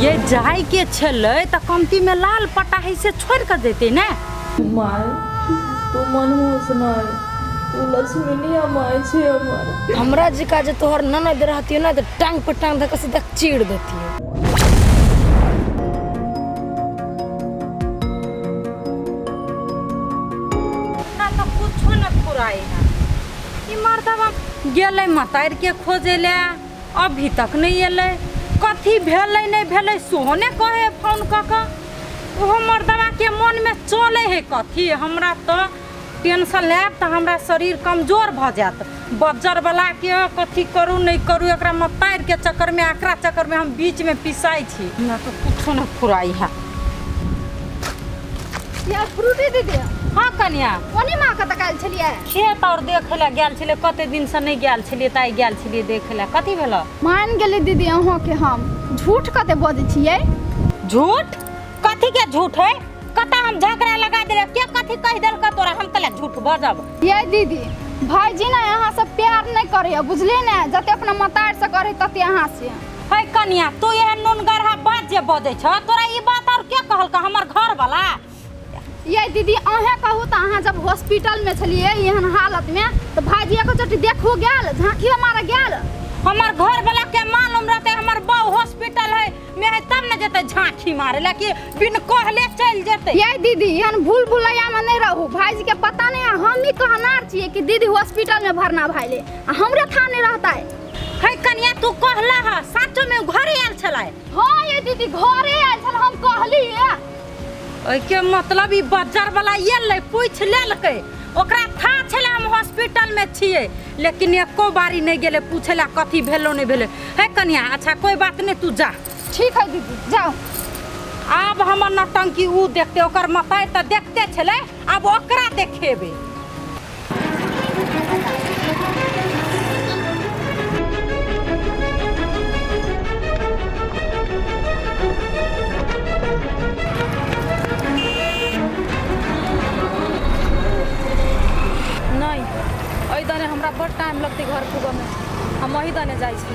ये जाय के छलै तऽ कमती में लाल पटाही से छोड़ के देते ने माय तू मनहूस नहीं तू लक्ष्मीनिया माय छे हमर हमरा जिका जे तोहर ननद रहती ना तो टांग पर टांग धके सीधा चीड़ देती हमरा तऽ कुछो न फुराई है ई मर्दबा गेलै मतार के खोजे ले अभी तक नहि एलै कथी भेलै नहि भेलै सेहो नहि कहै हइ फोन कऽ कऽ ओहो मर्दबाके मोनमे चलै हइ कथी हमरा तऽ टेंशन लेब तऽ हमरा शरीर कमजोर भऽ जायत बज्जरवलाके कथी करू नहि करू एकरा मतारिके चक्करमे एकरा चक्करमे हम बीचमे पिसाइ छी हमरा तऽ किछो नहि फुराइ है या फ्रूटी दीदी हँ कनिया ओने माँ कतऽ काल्हि छलियै खेत और देखे ला गेल छलिए कते दिन से नहीं गेल छलिए ताई गेल छलिए देखे ला कथी भेला मान गेली दीदी अहाँ के हम झूठ कते बजे छिए झूठ कथी के झूठ है कता हम झगड़ा लगा देले के कथी कह देल का तोरा हम तले झूठ बजब ये दीदी भाईजी ने यहाँ से प्यार नहीं करे बुझले ने जते अपना मतार से करे तते यहाँ से है कनिया तू यह नून गरहा बात जे बजे छ तोरा ई बात और के कहल का हमर घर वाला ये दीदी अहें कहू तऽ अहाँ जब हॉस्पिटल में छलिए एहन हालत में तऽ भाईजी एको चोटी देखू गेल झांकियो मारे गेल हमर घर वाला के मालूम रहते हमर बाऊ हॉस्पिटल है में है तब न जते झांकी मारे ला कि बिन कहले चल जते ये दीदी एहन भूल भुलैया में नहीं रहू भाईजी के पता नहीं है हम ही कहनार छिए कि दीदी हॉस्पिटल में भरना भाईले आ हमरे था नहीं रहता है है कनिया तू कहला हा साचो में उ घरे आयल छलाय हाँ ये दीदी घरे आयल छल हम कहली है ओहिके मतलब ई बज्जर वाला एलै पूछ लेलकै ओकरा था छलै हम हॉस्पिटल में छियै लेकिन एको बारी नहीं गेले पूछे ला कथी भेलो नहीं भेले है कनिया अच्छा कोई बात नहीं तू जा ठीक है दीदी जाओ आब हमर नौटंकी ऊ देखते ओकर मताई तऽ देखते छलै आब ओकरा देखेबै नहि एहि दने हमरा बड़ टाइम लगतै घर पुगऽमे हम एहि दने जाइ छी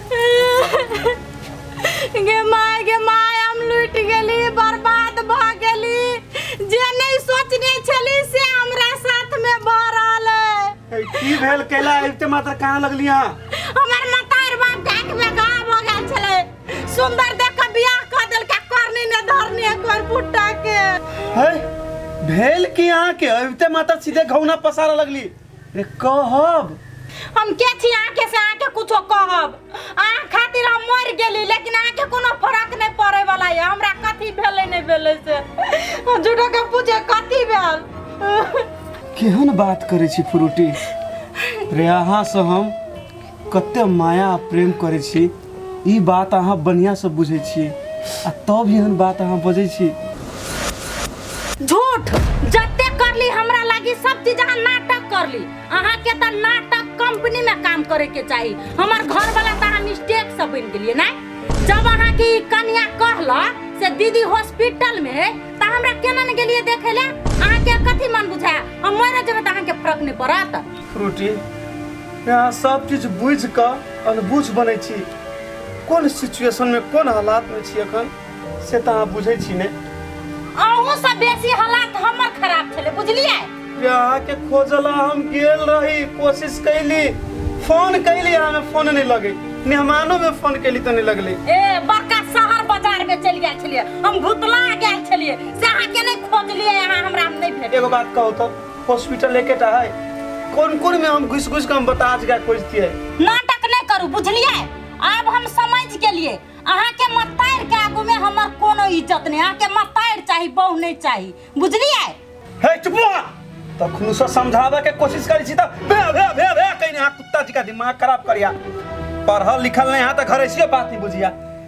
गे माय गे माय हम लुट गेली बर्बाद भ गेली जे नहीं सोचने छली से हमरा साथ में भ रहल है ए, की भेल कैला अबिते मात्र कहाँ लगली हाँ हमर मतार बाप के आँख में घाव हो गेल छले सुंदर देख के बियाह क देलका करनी ने धरनी है कोर बुट्टा के है भेल की अहाँ के अबिते मात्र सीधे घौना पसारा लगली रे कहब हम के छी अहाँ के से अहाँ के कुछो कहब अहाँ खातिर हम मर गेली लेकिन अहाँ के कोनो फर्क नहीं पड़े वाला है हमरा कथी भेले नहीं भेले से हम झूठो के पूछे कथी भेल केहन बात करै छी फ्रूटी रे अहाँ से हम कते माया आ प्रेम करै छी ई बात अहाँ बढ़िआँसँ बुझै छी आ तब एहन बात अहाँ बजै छी झूठ जते करली हमरा लागी सब चीज अहाँ नाटक करली अहाँ के त नाटक कंपनी में काम करे के चाहिए हमर घर वाला त अहाँ मिस्टेक से बन गेलिए ना जब अहाँ के ई कन्या कहला से दीदी हॉस्पिटल में है त हमरा केना ने गेलिए देखे ले अहाँ के कथी मन बुझाय हम मर जेबे त अहाँ के फर्क नहीं पड़त फ्रूटी यहाँ सब चीज बुझ कऽ अनबुझ बनै छी कोन सिचुएशन में कोन हालात में छी अखन से तऽ अहाँ बुझै छी ने अहूँ से बेसी हालात हमर खराब छलै बुझलियै जे अहाँके खोजला हम गेल रही कोशिश कैली फोन कैली अहाँ फोन नहीं लगे मेहमानो में फोन कैली तो नहीं लगले ए बड़का शहर बाजार में चलि गेल छलियै हम भुतला गेल छलियै से अहाँके नहि खोजलियै अहाँ हमरा नहि भेट एगो बात कहू तो हॉस्पिटल लेके टा है कौन कौन में हम घुस घुस के हम बता आज गाय खोजती है नाटक नहीं करू बुझलिए आब हम समझ गेलिए अहाँ के मतार के आगू में हमर कोनो इज्जत नहीं अहाँ के मतार चाही बहु नहीं चाही बुझलिए हे चुप रहा तो खुनुसा समझावे के कोशिश करी छी त बे बे बे बे कहीं ना कुत्ता जी का दिमाग खराब करिया पढ़ल लिखल नहीं यहाँ तक घर ऐसी बात नहीं बुझिया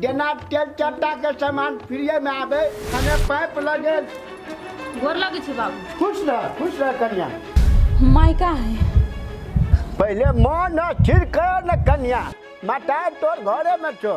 जेना तेल चट्टा के सामान फ्रीए में आवे खाने पाइप लगे गोर लगे छी बाबू खुश रह खुश रह कन्या मायका है पहले मन स्थिर कर न कन्या माता तोर घरे में छो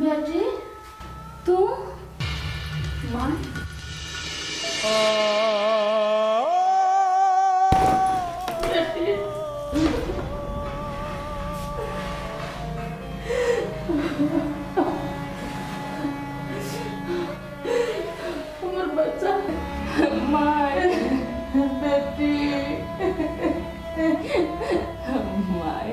बेटी तू मन हमर बच्चा माय बेटी माय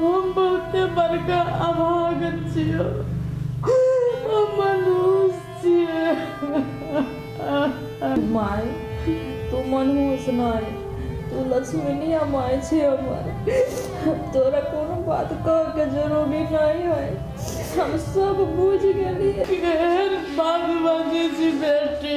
हम बहुते बड़का अभाग छियै हम मनुष्य छियै माय तू मनहूस नहि तू लक्ष्मीनिया माय छी हमर तोरा कोनो बात कह के जरूरी नहि है हम सब बुझ गेलिए केहन बात बाजै छी बेटी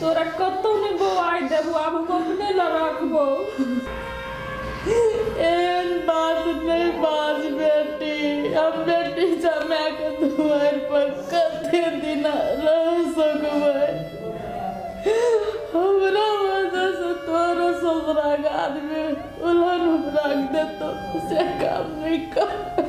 तोरा कतौ ने बौआइ देबो आब हम अपने ल रखबो एहन बात नहीं बाज बेटी अब बेटी जमा के दुआर पर कते दिन रह सकबै हमरा वजह से तोरो ससुरा आदमी उलहन उपराग देतो से काम नहीं कर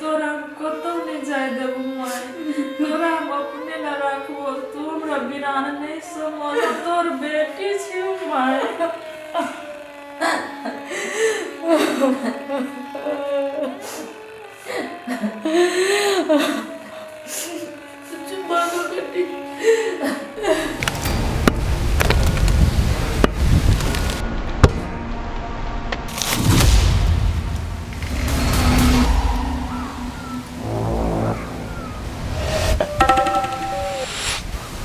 तोरा हम कतौ नहि जाय देबो माय तोरा हम अपने न रखबो तू हमरा बिना नहि समझ तोर बेटी छी माय Oh,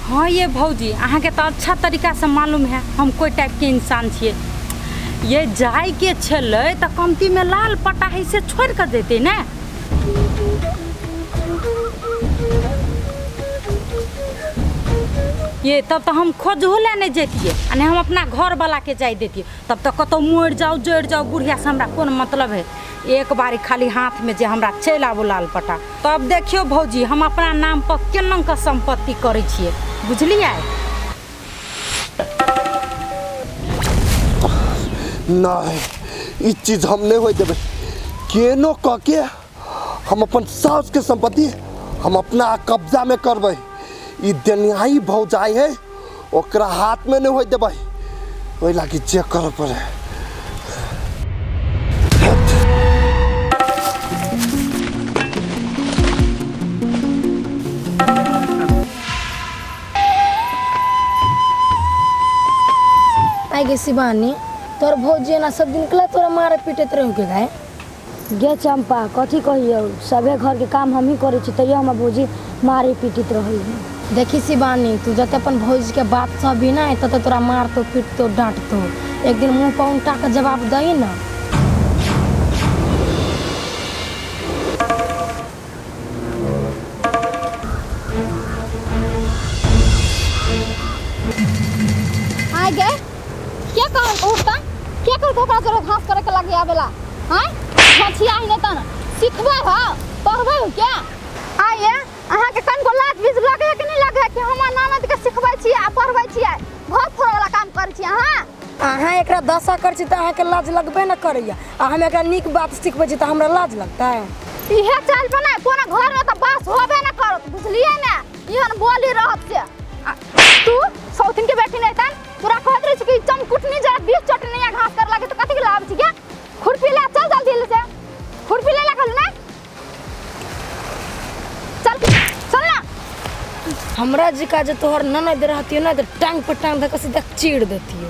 हाँ ये भौजी अहाँके तऽ अच्छा तरीकासँ मालूम है हम कोइ टाइपके इंसान छियै ये जायके छलै तऽ कमतीमे लाल पटाही से छोड़ि कऽ देतै ने ये तब तो हम खोजहू ले नहीं जैतिए आ नहीं हम अपना घर वाला के जाय देतिए तब तो कतौ मर जाओ जड़ जाओ बुढ़िया से हमरा कौन मतलब है एक बारी खाली हाथ में जे हमरा चलि आबू लाल पटा तब देखियो भौजी हम अपना नाम पर केना के संपत्ति करै छियै बुझलियै नहि ई चीज हम नहि होय देबै केनो कऽ के हम अपन सासुके सम्पत्ति हम अपना कब्जामे करबै ई देनिहाई भौजाइ है ओकरा हाथमे नहि होय देबै ओहि लागी जे करऽ पड़ै आई गे शिवानी तोर भौजी एना सब दिन कला तोरा मारे पीटत रहू के गाय गे चंपा कथी कहियौ सभे घरके काम हमही करै छी तैयो हमर भौजी मारे पीटित रहै देखी शिवानी तू जते अपन भौजी के बात सहबी ना तते तोरा मारतो पीटतो डांटतो एक दिन मुंह पर उल्टा के जवाब दही ना आय गे के कहल को उठता के कहल को ओकरा जोरे घास करे के लगे आवेला हैं छछिया ही नेता ना सिखबे हो पढ़बे हो क्या आय ये अहाँ के कन को लात बीज लगे है कि नहीं लगे है कि हम नानद के सिखबै छी आ पढ़बै छी घर फोड़ वाला काम करै छी अहाँ अहाँ एकरा दशा कर छी तऽ अहाँके लाज लगबे न करैया आ हम एकरा नीक बात सिखबै छी तऽ हमरा लाज लगतै इहे चल बना कोनो घर में त बस होबे न करत बुझलिए ने इहन बोली रहत से आ, तू सौतिन के बेटी नहीं तन तोरा कहत रही कि चमकुटनी जरा बीस चटनी या घास कर लागे तो कथी के लाभ छी के खुरपी ले चल जल्दी ले से खुरपी ले लागल ना चल चल ना हमरा जी का जे तोहर ननद रहतियो ना तऽ टांग पर टांग धऽ कऽ सीधा चीर देतियो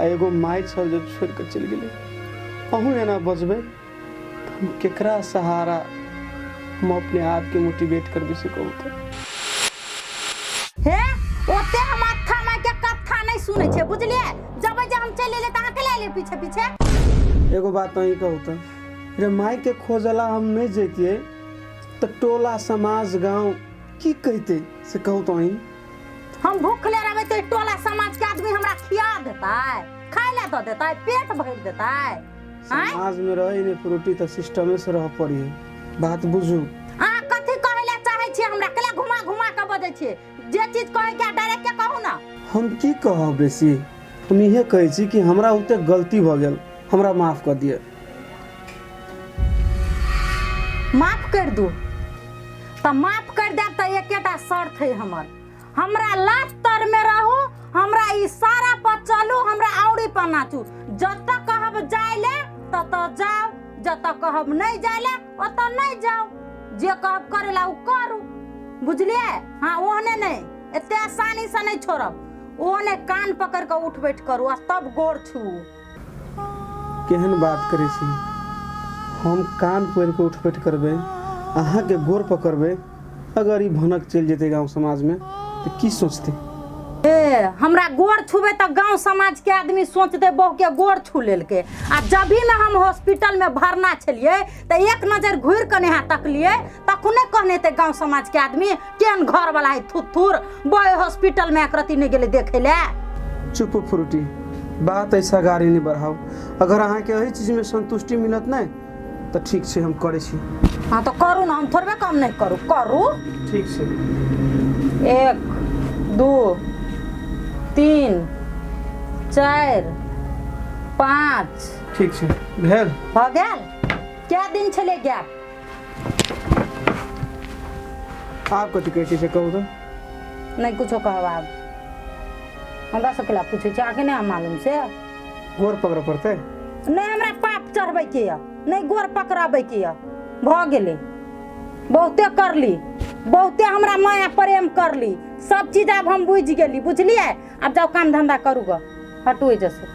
आ एगो माय छल जब छोड़ के चल गेले अहू एना बजबे त हम केकरा सहारा हम अपने आप के मोटिवेट करबे से कहू तो हे ओते हम अत्था माय के कथा नहीं सुने छे बुझलिए जब जे हम चले ले तहां के ले ले पीछे पीछे एगो बात अहीं कहू तो रे माय के खोजला हम नहीं जैतिए तो टोला समाज गांव की कहते से कहू तो अहीं हम भूखले रहबै तऽ टोला समाज के आदमी हमरा खिया देतै खाय ले दऽ देतै पेट भरि देतै आँय? समाज में रहे ने प्रोटी तो सिस्टमे से रह पड़ी बात बुझू अहाँ कथी कहै ले चाहै छियै हमरा कले घुमा घुमा कऽ बजै छियै जे चीज कहै के डायरेक्ट के कहू ने हम की कहब बेसी हम इहे कहै छी कि हमरा ओते गलती भऽ गेल हमरा माफ कऽ दिअ माफ कर दू तऽ माफ कर देब तऽ एकेटा शर्त है हमर हमरा लाज तर में रहू हमरा इशारा पर चलू हमरा औरी पर नाचू जत कहब जाय ले तत जाओ जत कहब नहीं जाय ले ओत नहीं जाओ जे कहब करे ला उ करू बुझलिए हाँ ओहने नहीं एते आसानी से नहीं छोड़ब ओहने कान पकड़ के उठ बैठ करू आ तब गोर छू केहन बात करै छी? हम कान पोड़ि कऽ उठपैठ करबै, अहाँकेँ गोड़ पकड़बै। अगर ई भनक चलि जेतै गाम-समाजमे तँ की सोचतै? हे, हमरा गोड़ छूबै तँ गाम-समाजक आदमी सोचतै बहुकेँ गोड़ छू लेलकै। आ जबहिमे हम हॉस्पिटलमे भरना छेलिऐ त एक नजर घूर कने यहाँ तकलिए तखने कहने ते गांव समाज के आदमी केन घर वाला है थुथुर बड़े हॉस्पिटल में एकरती नहीं गेले देखे ले चुप फ्रूटी बात ऐसा गाड़ी नहीं बढ़ाओ अगर अहाँ के एही चीज में संतुष्टि मिलत नहीं तो ठीक से हम करे छी हाँ तो करू ना हम थोड़बे कम नहीं करू करू ठीक से एक दू तीन चार पाँच ठीक छै भेल भऽ गेल कए दिन छलै गैप आब कथी कहै छै से कहू तऽ नहि कुछो कहब आब हमरा सबके लए पूछै छै अहाँके नहि हम मालूम से गोर पकड़ऽ पड़तै नहि हमरा पाप चढ़बैके यऽ नहि गोर पकड़बैके यऽ भऽ गेलै बहुते करली बहुते हमरा माया प्रेम करली सब चीज आब हम बुझि गेली बुझलियै आब जाउ काम धंधा करू ग हटू एहिजसँ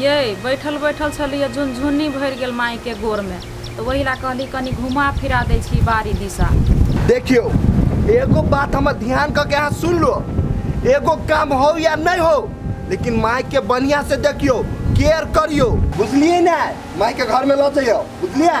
यै, बैठल-बैठल छलीह, झुनझुन्नी भरि गेल माइकेँ गोड़मे तँ ओहि लए कहलीह कनी घुमा-फिरा दै छी बाड़ी दिशा। देखियौ, एगो बात हमर ध्यान कऽ कऽ अहाँ सुनि लू। एगो काम होउ या नै होउ, लेकिन माइकेँ बढ़ियाँसँ देखियौ, केयर करियौ। बुझलियै ने? माइकेँ घरमे लऽ जइयौ। बुझलियै?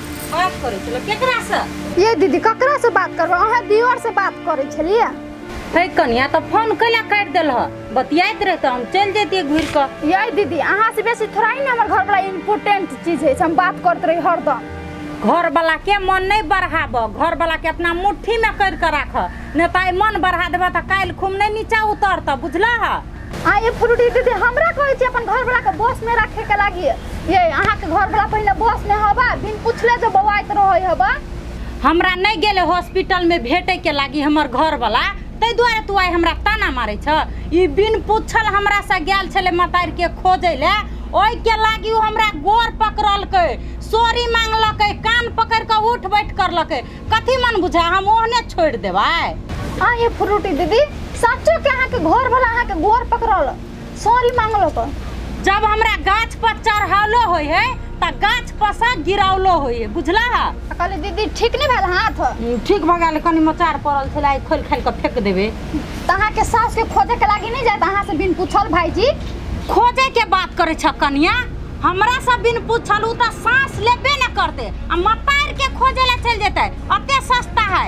बात करै छलो केकरा से ये दीदी ककरा से बात करबो अहाँ दियोर से बात करै छलियै हे कनिया तऽ फोन कैला काटि देलह बतियाइत रहितऽ हम चलि जैतियै घुरि कऽ ये दीदी अहाँ से बेसी थोड़ा ही ने हमर घर वाला इम्पोर्टेंट चीज है से हम बात करते रही हरदम घरवला के मन नहि बढ़ाबऽ घरवला के अपना मुट्ठी मे करि कऽ राखऽ नहि तऽ आइ मन बढ़ा देबऽ तऽ काल्हि खुम नहि नीचा उतरतऽ बुझलह आ ये फ्रूटी दीदी हमरा कहै छी अपन घरवला के बस में रखे के लागी ये अहाँ के घरवला पहले बस में हवा बिन पूछले जो बवाइत रहै हवा हमरा नहीं गेले हॉस्पिटल में भेटे के लागी हमर घर वाला ताहि दुआरे तू आइ हमरा ताना मारे छ ई बिन पूछल हमरा से गेल छले मतार के खोजे ले ओहि के लागी उ हमरा गोर पकड़लकै सोरी मांगलकै कान पकड़ के उठ बैठ करलकै कथी मन बुझा हम ओहने छोड़ देबै हाँ ये फ्रूटी दीदी सचो के अहाँ के घर वाला अहाँ के गोर पकड़ल सॉरी मांगलो तो जब हमरा गाछ पर चढ़ावलो होय है त गाछ पर से गिरावलो होय है बुझला है कहले दीदी ठीक नहीं भेल हाथ हम्म, ठीक भगा ले कनी मचार पड़ल छला खोल खाल के फेंक देबे तो अहाँ के सास के खोजे के लागी नहीं जात अहाँ से बिन पूछल भाईजी खोजे के बात करे छ कनिया हमरा सब बिन पूछल उ त सांस लेबे न करते आ मतार के खोजे ला चल जेते अते सस्ता है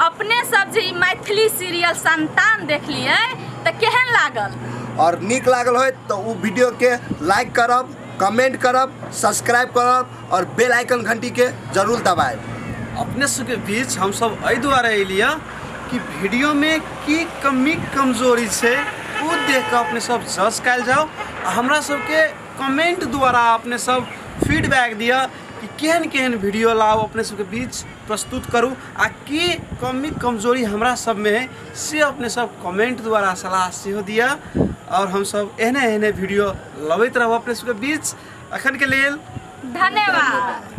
अपने सब जे ई मैथिली सीरियल संतान देखलिए तऽ केहन लागल और नीक लागल होय तऽ ओ वीडियो के लाइक करब कमेंट करब सब्सक्राइब करब और बेल आइकन घंटी के जरूर दबाएब अपने सबके बीच हम सब एहि दुआरे एलियै कि वीडियो में की कमी कमजोरी छै ओ देख कऽ अपने सब जज कयल जाओ आ हमरा सबके कमेंट द्वारा अपने सब फीडबैक दिअ कि केहन केहन वीडियो लाउ अपने सबके बीच प्रस्तुत करू आ के कमी कमजोरी हमरा सबमे है से अपने सब कमेंट द्वारा सलाह सेहो दिअ आओर हमसब एहने एहने वीडियो लबैत रहब अपने सबके बीच अखन के लेल धन्यवाद